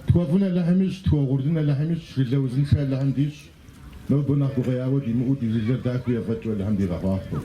Тхуэфӏын Алыхьым ищӏ, тхуэугъурлын Алыхьым ищӏ, жылэ узыншэ Алыхьым дищӏ. Нобэ нэхъ гукъеуэ димыӏэу ди жылэр дахэу ефӏэкӏыу Алыхьым дигъэхъуахъуэу.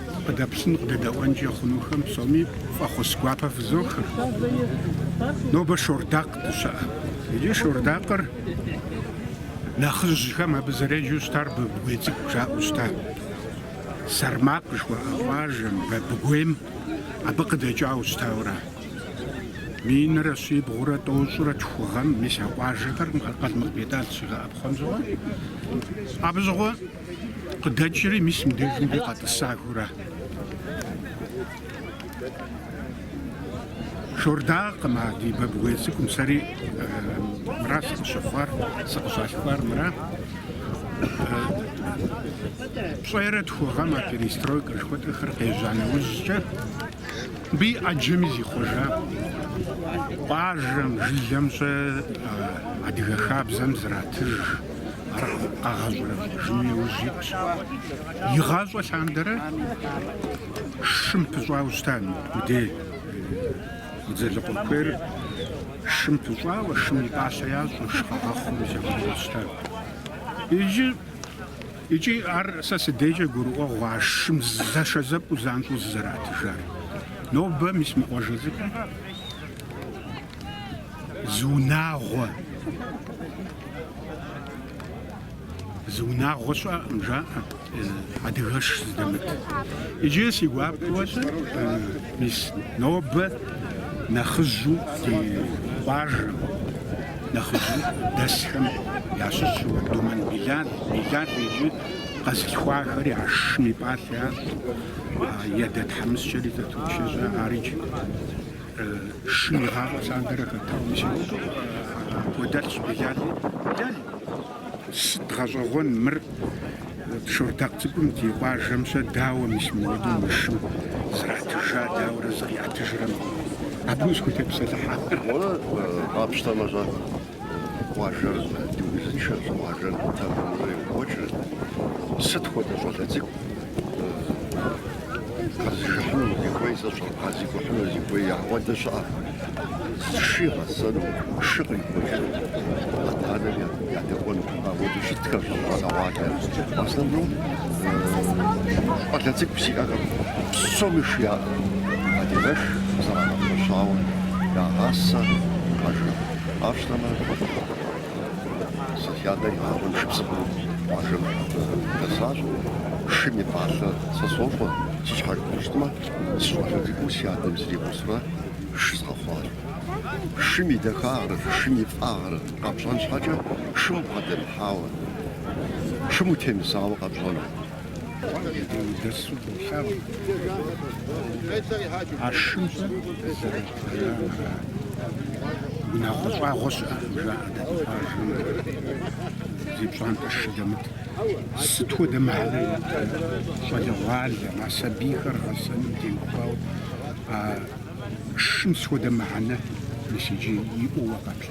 Къыдэплъын, къыдэдэӏуэнкӏэ хъунухэм псоми фӏэхъус гуапэ фызох. Нобэ Шордакъ дыщыӏэ. Иджы Шордакъыр нэхъыжьхэм абы зэреджэу щытар Бабыгуей цӏыкӏу жаӏэу щыта. Сэрмакъ жыхуаӏэ къуажэм, Бабыгуейм, абы къыдэкӏауэ щытауэра. Минрэ щибгъурэ тӏощӏрэ тху гъэм, мис а къуажэхэр Къалмыкъ Бетӏал щигъэӏэпхъуэм щыгъуэ. Абы щыгъуэ. Къыдэкӏри, мис мыбдежым дей къэтӏысахэура. Шордакъым а ди Бабгуей цӏыкӏум сэри мыра сыкъыщыхъуар, сыкъыщалъхуар мыра. Пщӏейрэ тху гъэм а перестройкэ жыхуэтӏэхэр къежьа нэужькӏэ мыбы и ӏэджэми зихъуэжа къуажэм, жылэм-щэ адыгэ хабзэм зратыж. Ар къэгъэщӏэрэщӏэжыным иужь итщ. Игъащӏэ лъандэрэ шым пыщӏауэ щыта мыбдей Дзэлыкъуэ куейр шым пыщӏауэ, шым и пӏалъэ ящӏэу, шы къагъэхъуу зехъуэу щыта. Иджы икӏи ар сэ си дейкӏэ гурыӏуэгъу а шым зэшэзэпӏэу занщӏэу зызэратыжар. Нобэ мис мы къуажэзыпӏэм Зы унагъуэ. Зы унагъуэ щыӏэкъым, жаӏэ. Адыгэш зыдэмыт. Иджы си гуапэу-щэ, мис нобэ нэхъыжьу ди къуажэм, нэхъыжьу дэсхэм ящыщу Думэн Билал, Билал иджы къэзылъхуахэри ар шым и пӏалъэ ящӏэ, и адэ тхьэмыщкӏэри зэточэжьэ, ар иджы. Шым игъащӏэ лъандэрэ хэтауэ щытым, кӏуэдэлъщ Билали. Билали! Сыт гъэщӏэгъуэн мыр? Шордакъ цӏыкӏум ди къуажэм-щэ дауэ мис мыуэдэу мы шым зратыжа, дауэрэ зыкъиӏэтыжрэ мыгъуэм? Абы усхутепсэлъыхьа? Уэ къапщтэмэ-щэ? къуажэр дыузыншэщ, къуажэр тэмэму йокӏуэкӏыр. Сыт хуэдэ щӏалэ цӏыкӏу къэзыжыхьыну зихуей, сэ сщӏэ, къэзыкӏухьыну зихуей ауэдэ щыӏэм, шы игъэсэну, шы къихуэжыну, адэ-анэм едэӏуэну ауэдэ щытхэщ щӏалэгъуалэр. В основном щӏалэ цӏыкӏу сиӏэкъым, псоми шы яӏэкъым. Адыгэш зэрагъэпэщауэ ягъасэ къуажэм. Къапщтэмэ, сэ си адэр игъащӏэм шыбзыхъуэу къуажэм дэсащ. Шым и пӏалъэ сэ сощӏэ, си щхьэр къапщтэмэ, сыщӏалэ цӏыкӏуу си адэм сригъусурэ шы згъэхъуащ. Шым и дахагърэ шым и фӏагърэ къэпщӏэн щхьэкӏэ шым бгъэдэмыхьауэ, шым утемысауэ къэпщӏэн. Иудысу долъагъу а шымрэ зэрыщӏэжамрэ, унагъуэ щӏагъуэ щыӏэкъым, жаӏэрт абы къуажэм, зи пщӏантӏэ шы дэмыт. Сыт хуэдэ мыхьэнэ иӏэ щӏалэгъуалэм, а сабийхэр гъэсэным теухуауэ а шым сыт хуэдэ мыхьэнэ мис иджы иӏэу къэплъэ.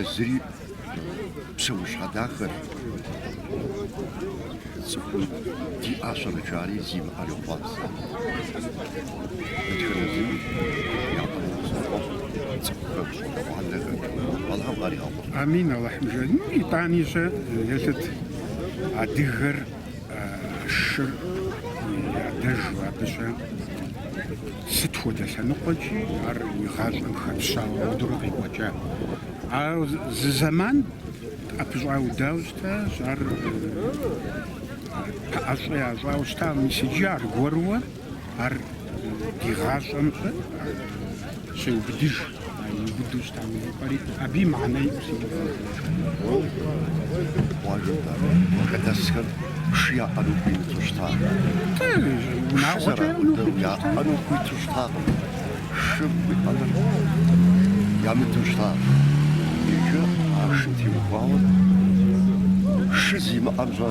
Езыри псэущхьэ дахэщ, цӏыхум диӏа щэнычари зимыӏэр йохъуапсэ. Дэтхэнэ зыми япэуцӏэфӏэфӏ цӏыхухэр, гъуанэхэр, Алыхьым къаригъэхъу. Амин, Алыхьым жиӏэ. Ну, итӏани щэ елъыт адыгэр. шыр ядэжу абыщӏэ сыт хуэдэ лъэныкъуэкӏи ар и гъащӏэм хэпщауэ ауэдурэ къекӏуэкӏа. А зы зэман ӏэпыщӏаудауэ щытащ, ар пэӏэщӏэ ящӏауэ щытащ, мис иджы аргуэру Ар ди гъащӏэм щеубыдыж, иубыду щытам и пӏэри, абы и мыхьэнэ иӏэу си Къуажэм къыдэсхэр шы яӏэну хуимыту щыта? Унагъуэкӏэ яӏэну хуиту щытакъым. Шы уиӏэныр ямыдэу щыта. Иджы а шым теухуауэ шы зимыӏэм щӏэ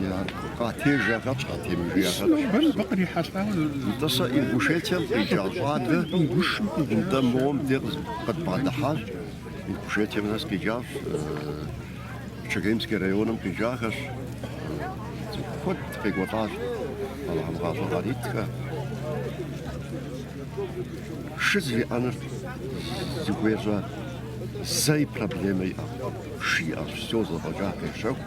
Я къатежахэщ, къатемыжахэщ. Бэм бэ кърихьэлӏауэ Нтӏэ сэ Ингушетием къикӏа щӏалэ Ингушым къикӏа. нтӏэ мобы де къыз- къытбгъэдыхьащ. Ингушетием нэс къикӏащ, э, Чегемский районым къикӏахэщ. Э, цӏыху куэд къекӏуэлӏащ. Алыхьым гъащӏэ къаритхэ. Шы зиӏэныр зыхуещӏэ зэи проблемэ иӏэкъым. Шы иӏэщ, все зэфӏэкӏа къещэху.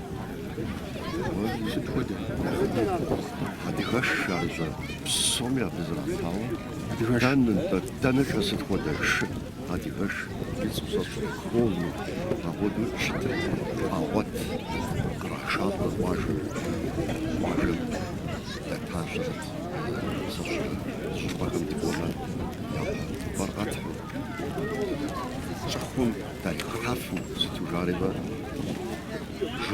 Сыт хуэдэ? Адыгэш жарыщӏэ псоми абы зэралъауэ. Адыгэш. Дэнэ, дэнэ шэ сыт хуэдэ шы? Адыгэш. Ицӏыпсэщ холми, апхуэду щытыр къагъуэт. Кърашапӏэ къуажэм. Къуажэм дэтащэрэт. Сащэ щӏыпӏэхэм дыкӏуэмэ, япэ увыпӏэр къэтхьу. Щӏыхъум Дальхъхьэфу сыту жари ба,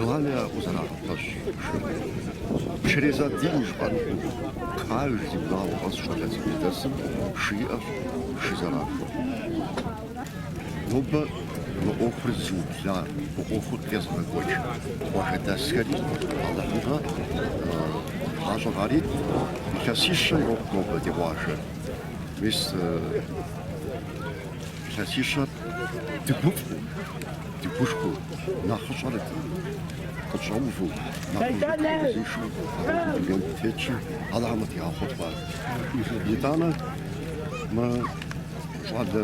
уани а узэрагъэпэщ шырым. Через один жыпӏэнху, каждый унагъуэ къэс щӏалэ цӏыкӏуу дэсым шы иӏэщ шы зэрахуэ. Нобэ мы ӏуэхур зыубла, мы ӏуэхур къезыгъэкӏуэкӏ къуажэдэсхэри Алыхьым гъащӏэ къарит, илъэсищэ ирокъу нобэ ди къуажэр. Мис Илъэсищэр дыгуфӏэу, дыгушхуэу, нэхъыщӏэр къытщӏэувэу, нэхъыжьыр къызишэу абы дунейм дытетщи, Алыхьым къыдигъэхъулӏэ. Итӏанэ мы щӏалэ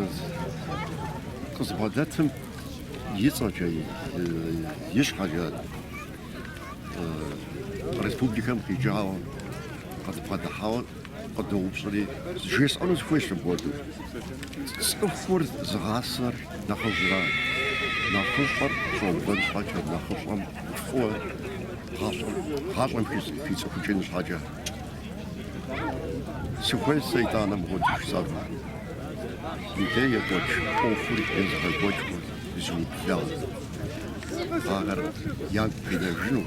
къызбгъэдэтым и цӏэкӏэ, и щхьэкӏэ республикэм къикӏауэ, къызбгъэдыхьауэ Къыдоупщӏри, жесӏэну сыхуейщ мыпхуэду. Цӏыхур зыгъасэр нэхъыжьращ. Нэхъыщӏэр щӏобэн щхьэкӏэ нэхъыщӏэм фӏыуэ гъащӏэм, гъащӏэм хицӏыхукӏын щхьэкӏэ. Сыхуейщ сэ итӏанэ мыпхуэду жысӏэну. Мыдей екӏуэкӏ ӏуэхур езыгъэкӏуэкӏыу зыублахэ. Ахэр ягу къинэжыну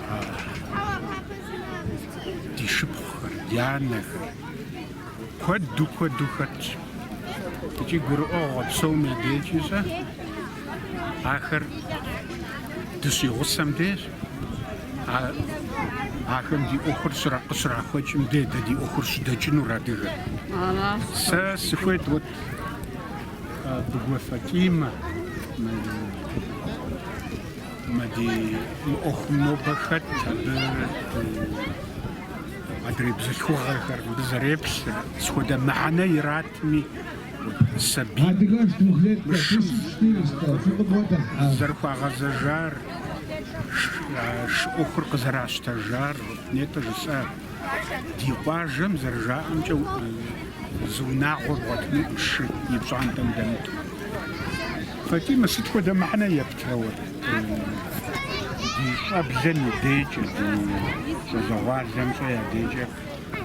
Ди шыпхъухэр, ди анэхэр куэду куэду хэтщ. Икӏи гурыӏуэгъуэ псоми я дежкӏи ахэр дыщигъусэм деж, ахэм ди ӏуэхур къыщрахуэкӏым деж дэ ди ӏуэхур щыдэкӏынур адыгэ. Сэ сыхуейт вот Быгуэ Фатимэ Мы ӏуэхум нобэ хэт абы адрей бзылъхугъэхэр мыбы зэреплъыр, сыт хуэдэ мыхьэнэ иратми, сабийм шым зэрыхуагъэзэжар, шы ӏуэхур къызэращтэжар, нетӏэ жысӏа? Ди къуажэм, зэрыжаӏэмкӏэ, зы унагъуэ бгъуэтынукъым шы и пщӏантӏэм дэмыту. Фатимэ сыт хуэдэ мыхьэнэ ептырэ уэ? Ди щӏэблэм и декӏэ, ди щӏалэгъуалэмкӏэ я декӏэ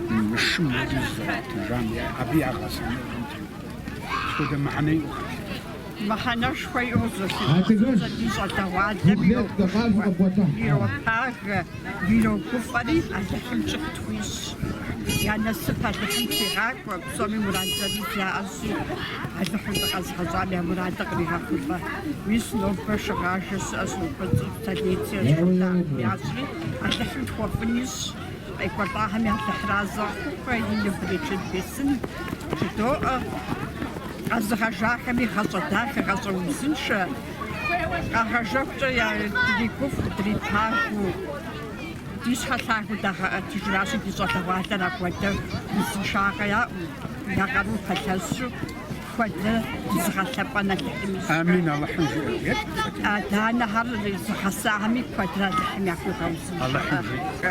мы шым уэдэ зызэрыратыжам, абы я гъэсэныгъэм теухуауэ. Сыт хуэдэ мыхьэнэ иӏэу? Мыхьэнэшхуэ иӏэу солъытэ. Адыгэш! Ди щӏалэгъуалэм йохъуж, иропагэ. Ирогуфӏэри, Алыхьым кӏыхь тхуищӏ. Я насып Алыхьым тригъакӏуэ, псоми мурад зырыз яӏэщи, Алыхьым дыкъэзыгъэщӏам я мурадыр къригъэхъулӏэ. Мис нобэ шыгъажэ щыӏэщ, нобэ цӏыху столетие ящӏри, Алыхьым тхуэфӏын ищӏ. Къекӏуэлӏахэми Алыхьыр арэзы яхухъу, берычэт бесын жыдоӏэ. Къэзыгъэжахэми гъащӏэ дахэ, гъащӏэ узыншэ. Къагъэжэхукӏэ дригуфӏэу, дрипагэу, ди щхьэ лъагэу дагъэӏэтыжращи, ди щӏалэгъуалэр апхуэдэ узыншагъэ яӏэу, я къарум пэлъэщу, куэдрэ зыгъэлъэпӏэн Алыхьым ищӏ. Амин, Алыхьым жиӏэ. Адэ-анэхэр зыгъэсахэми куэдрэ Алыхьым яхуигъэузыншэ.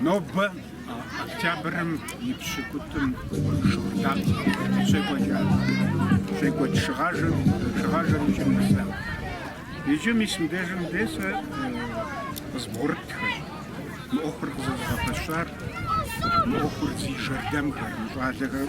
Нобэ октябрым и пщыкӏутӏым Шордакъ щекӏуэкӏа щекӏуэкӏ шыгъажэм, шыгъажэр и кӏэм нэса. Иджы мис мыбдежым де сэ къызбгъурытхэр, мы ӏуэхур къызэзыгъэпэщар, мы ӏуэхур зи жэрдэмхэр, мы щӏалэхэр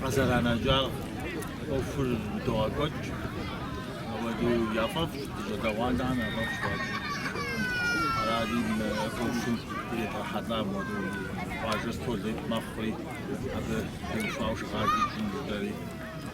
Къызэранэжар ӏуэхур догъэкӏуэкӏ, ауэдэу яфӏэфӏщ, ди щӏалэгъуалэхэм яфӏэфӏщ хуабжьу. Аращи мы ӏуэхум иригъэхьэлӏа мы ди къуажэр сто лет мэхъури, абы теухуауэ шыгъажи кӏын дыдэри.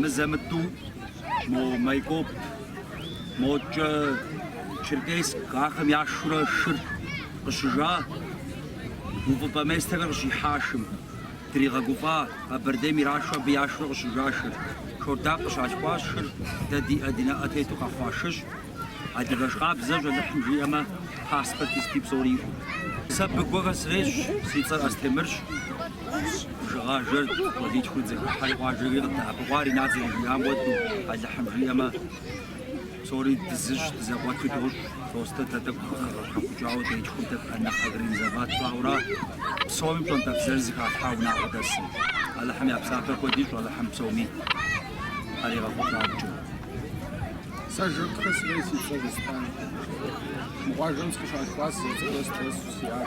мызэ-мытӏу мо Майкоп, мокӏэ Черкесск, ахэм яшурэ шыр къыщыжа, увыпӏэ местэхэр къыщихьа шым, дригъэгуфӏа, Къэбэрдейм ирашу абы яшурэ къыщыжа шыр, Шордакъ къыщалъхуащ шыр, дэ ди э ди нэӏэ тету къэхъуа шыщ, адыгэш къабзэщ, Алыхьым жиӏэмэ, паспорти сыти псори иӏэу. Сэ Быгуэхэ сарейщ, си цӏэр Астемырщ. Шыгъажэр цӏыхуитхуу дызэхыхьэри къуажэри къыддэӏэпыкъуар Ринат зэрыжиӏам хуэдэу, Алыхьым жиӏэмэ, псори дызыщ, дызэкъуэту дощӏ. Просто дэ тӏэкӏу къыхэщхьэхукӏауэ дитхур дэ нэхъ организовать тщӏауэ ара, псоми пщӏэнтӏэпсыр зыхалъхьа унагъуэ дэсым. Алыхьым я псапэ куэд ищӏ Алыхьым псоми къаригъэхъулӏамкӏэ. Сэ жыр къыхэсри си щэ зэспар. Мы къуажэм сыкъыщалъхуар сызэрыцӏыкӏурэ сыщӏэсу сиӏат.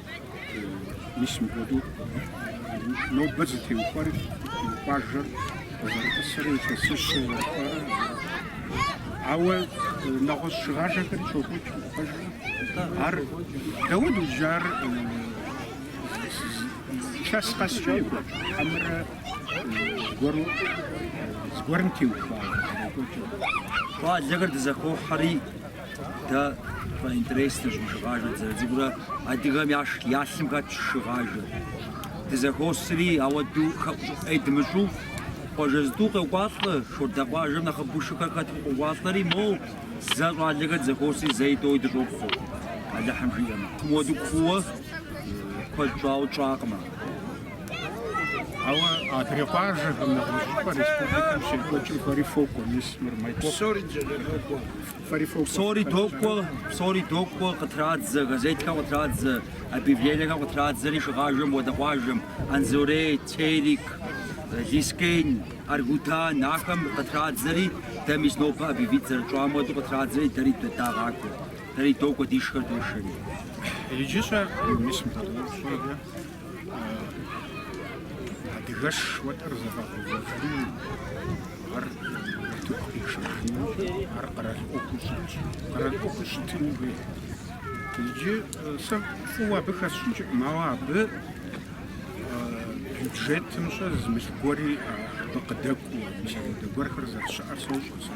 Мис мыхуэду нобэ зытеухуар и къуажэр зэрытӏысыр, илъэсыщыр зэрыхуэрэ. Ауэ нэгъуэщӏ шыгъажэхэри щокӏуэкӏ пэжу. Ар дауэ дуджар чэс къэскӏэ екӏуэкӏ, хьэмэрэ зыгуэру зыгуэрым теухуауэ зэрекӏуэкӏыр. Щӏалэхэр дызэхохьэри, Дэ фэ интереснэщ мы шыгъажэр дызэрыцӏыкӏурэ адыгэм щэ ялъым хэтщ шыгъажэр. Дызэхуосри ауэду хэӏущӏыӏуи дымыщӏу къуажэ зытӏу къокӏуалӏэ, Шордэ къуажэм нэхъыбэу шыхэр хэту къокӏуалӏэри моу, зэ щӏалэхэр дызэхуосри зэи тӏэуи дыщӏопхъуэ, Алыхьым жиӏэмэ. Тым уэду кууэ куэд щӏауэ тщӏакъым ар. Ауэ адрей къуажэхэм нэгъуэщӏыпӏэ республикэм щекӏуэкӏым фэри фокӏуэ, мис мыр мэкӏуэкъу. Псори докӏуэ, псори докӏуэ, къытрадзэ, газетхэм къытрадзэ, объявлениехэр къытрадзэри шыгъажэм уэдэ къуажэм, Анзорей, Терек, Лэскэн, Аргудан, ахэм къытрадзэри, дэ мис нобэ объявит зэрытщӏам уэду къытрадзэри, дэри дагъакӏуэ, дэри докӏуэ, ди шыхэр дошэри. Иджы щэ мис мыпхуэдэ щӏыкӏэ. Адыгэш уэтэр зэфӏэгъэувэжыным ар утыку къишэжыну, ар къэрал ӏуэхуу щытщ. Къэрал ӏуэхуу щытын хуей. Иджы сэ фӏыуэ абы хэсщӏыкӏкъым, ауэ абы бюджетым щэ зы мылъку гуэри абы къыдэкӏуэу, мис апхуэдэ гуэрхэр зэрыщыӏэр сощӏэ сэ.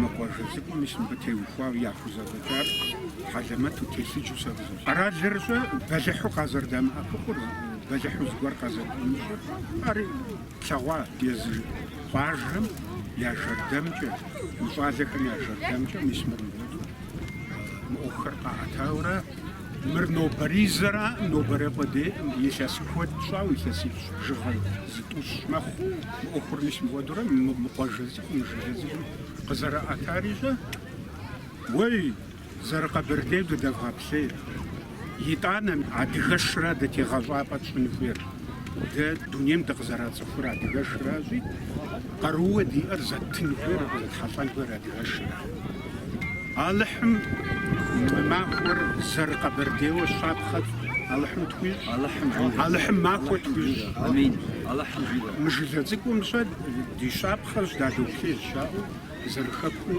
Мы къуажэ цӏыкӏум мис мыбы теухуауэ яхузэфӏэкӏар хьэлэмэту телъыджу сэ къысфӏощӏ. Къэралыр щэ бэлыхьу къазэрыдэмыӏэпыкъур, бэлыхьу зыгуэр къазэрыдэмыщӏыр, ар тлъэгъуа езы къуажэм я жэрдэмкӏэ, мы щӏалэхэм я жэрдэмкӏэ, мис мыр мыпхуэдэу мы ӏуэхухэр къаӏэтаурэ, Мыр нобэризэраӏым, нобэрей къудейӏым илъэс куэд щӏау, илъэсипщӏ бжыгъэ зытӏущ мэхъу. Мы ӏуэхур мис мыхуэдурэ мы мы къуажэ цӏыкӏум, мы жылэ цӏыкӏум къызэриӏэтар щэ, уей, зэрыкъэбэрдейуэ дыдэвгъэплъей. Итӏанэ адыгэшращ дэ тегъэщӏапӏэ тщӏын хуейр. Дэ дунейм дыкъызэрацӏыхур адыгэшращи, Къарууэ диӏэр зэттын хуейр абы зетхьэлӏэн хуейр адыгэшращ. Алыхьым мы махуэр зэрыкъэбэрдейуэ щапхъэ Алыхьым тхуищӏ. Алыхьым махуэ тхуищӏ. Амин. Алыхьым жиӏэ. Мы жылэ цӏыкӏум щэ ди щапхъэщ, дадоплъей жаӏэу зэрыхэкум.